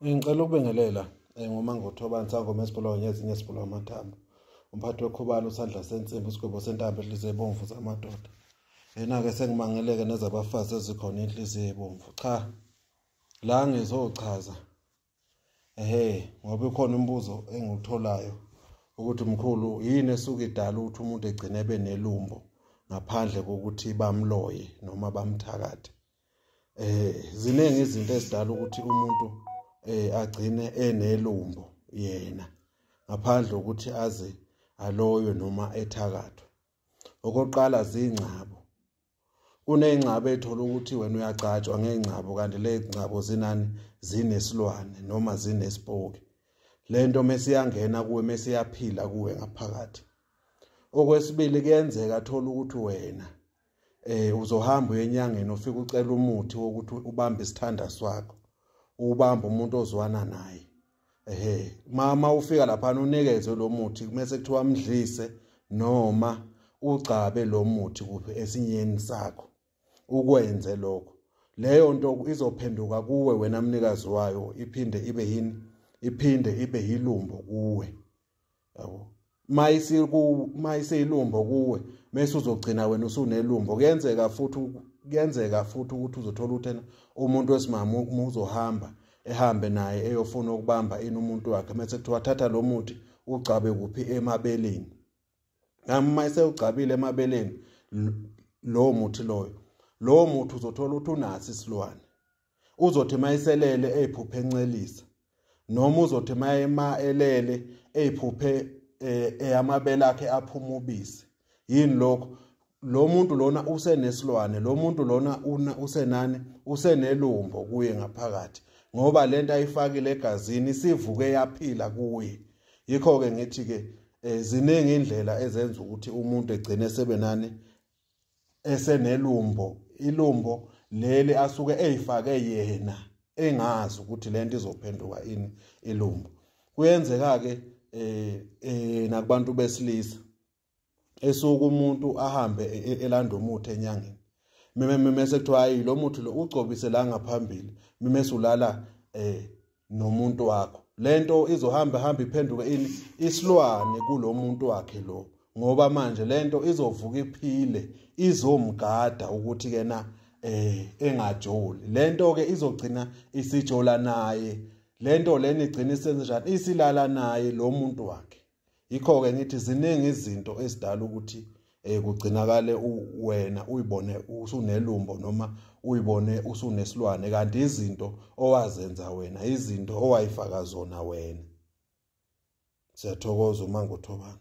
Eh, ngicela ukubingelela eh, ngomangothobani sangoma esibulawa ngezinye esibulawa amathambo umphathi wekhubalo usandla sensimbi isigwebo sentambo ehliziyo ebomvu zamadoda yena-ke sengimangeleke nezabafazi ezikhona inhliziyo ebomvu cha la ngizochaza ehe ngoba ikhona umbuzo engiwutholayo ukuthi mkhulu yini esuke idala ukuthi umuntu egcine ebe nelumbo ngaphandle kokuthi bamloye noma bamthakathe eh ziningi izinto ezidala ukuthi umuntu eh agcine enelumbo yena ngaphandle ukuthi aze aloywe noma ethakathwe okokuqala zingcabo kuneyingcabo ethola ukuthi wena uyagcatshwa ngeyingcabo kanti lezingcabo zinani zinesilwane noma zinesipoki lento mesiyangena kuwe mesiyaphila kuwe ngaphakathi okwesibili kuyenzeka thola ukuthi wena eh uzohamba uyenyangeni ufike ucela umuthi wokuthi ubambe isithanda swakho ubamba umuntu ozwana naye ehe mama ufika lapha unikezwe lo muthi kumese kuthiwa mdlise noma ugcabe lo muthi kuphi esinyeni sakho ukwenze lokho leyo nto izophenduka kuwe wena mnikazi wayo iphinde ibe yini iphinde ibe yilumbo kuwe yabo mayisi ku mayiseyilumbo kuwe mase uzogcina wena usunelumbo kuyenzeka futhi kuyenzeka futhi ukuthi uzothola uthena umuntu wesimama uzohamba ehambe naye eyofuna ukubamba ini umuntu wakhe mase kuthiwa thatha lo muthi ugcabe kuphi emabeleni nami mayise ugcabile emabeleni lowo muthi loyo lowo muthi uzothola ukuthi unaso isilwane uzothi mayiselele eziphuphe encelisa noma uzothi mayema elele eziphuphe eh, eyamabele akhe aphuma ubisi yini lokho lo muntu lona usenesilwane lo muntu lona usenani usenelumbo kuye ngaphakathi ngoba lento ayifakile egazini isivuke yaphila kuye yikho ke ngithi ke eh, ziningi indlela ezenza ukuthi umuntu egcine sebenani esenelumbo ilumbo leli asuke eyifake yena engazi ukuthi lento izophenduka ini ilumbo kuyenzeka ke eh, eh nakubantu besilisa esuku umuntu ahambe e, e, elanda umuthi enyangeni mime mime sekuthiwa hayi lo muthi lo ugcobise la ngaphambili mime sulala eh nomuntu wakho lento izohamba hamba iphenduke ini isilwane kulomuntu wakhe lo ngoba manje lento izovuka iphile izomgada ukuthi kena eh engajoli lento ke izogcina isijola naye lento leni igcina isenze njani isilala naye lo muntu wakhe yikho-ke ngithi ziningi izinto ezidala ukuthi um kugcinakale wena uyibone usunelumbo noma uyibone usunesilwane kanti izinto owazenza wena izinto owayifaka zona wena siyathokoza uma ngothobana